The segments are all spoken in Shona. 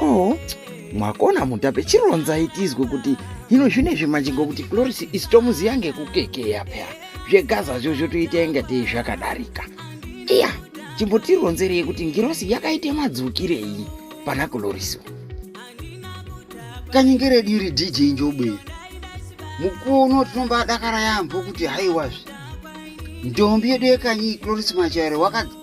oh mwakona mutape chironzai tizwe kuti hino zvine zvimanje ngokuti cloris isi tomuziya ngekukekeya pea zvegaza zvo zvotoita inga tei zvakadarika iya chimbotironzerei kuti ngirosi yakaita madzukirei pana cloris kanyengere diri dj njobwe mukuwo uno tinombadakara yaambo kuti haiwazve ndombi yedu yekanyi cloris machaire wakadzi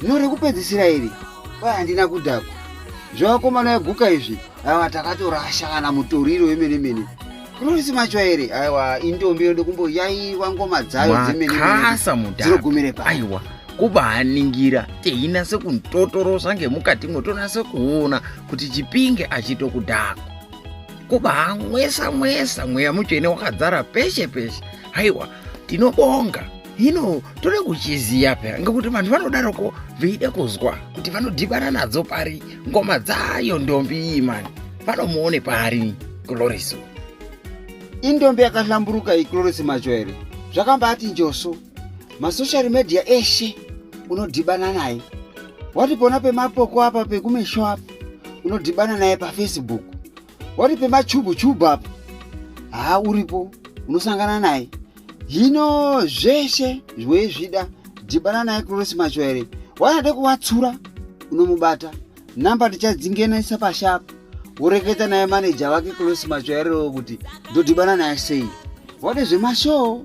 Zvino rekupedzisira iri kwai handina kudhakwa zvevakomana veguka izvi aiwa takatorasha kana mutoriro wemene mene kurorisi macho here aiwa indombi inoda kumboyaiwa ngoma dzayo dzemenemakasa mudhadzinogumire pa aiwa kubaningira teinase kuntotorosa ngemukati mwo tonase kuona kuti chipinge achito kudhakwa kubaamwesa mwesa mweya mutsvene wakadzara peshe peshe haiwa tinobonga hino toda kuchiziva pera ngekuti vanhu vanodaroko veida kuzwa kuti vanodhibana nadzo pari ngoma dzayo ndombi iyi mani vanomuone pari gloriso indombi yakahlamburuka iyi gloriso macho here zvakambati njoso masocial media eshe unodhibana naye wati pona pemapoko apa pekumesho apa unodhibana naye pafacebook wati pemachubu chubu apo haa uripo unosangana naye hino zveshe zvoizvida dhibana naye kurosi macho here waade kuvatsura unomubata namba ndichadzingenesa pashi apo woreketa naye maneja vake kurosi macho yarerewo kuti ndodhibana naye sei wade zvemashoo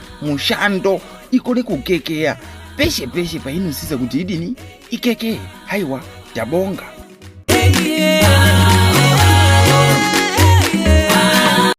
mushando ikone kukekeya peshe peshe painosisa kuti idini ikekee haiwa tabonga hey, yeah.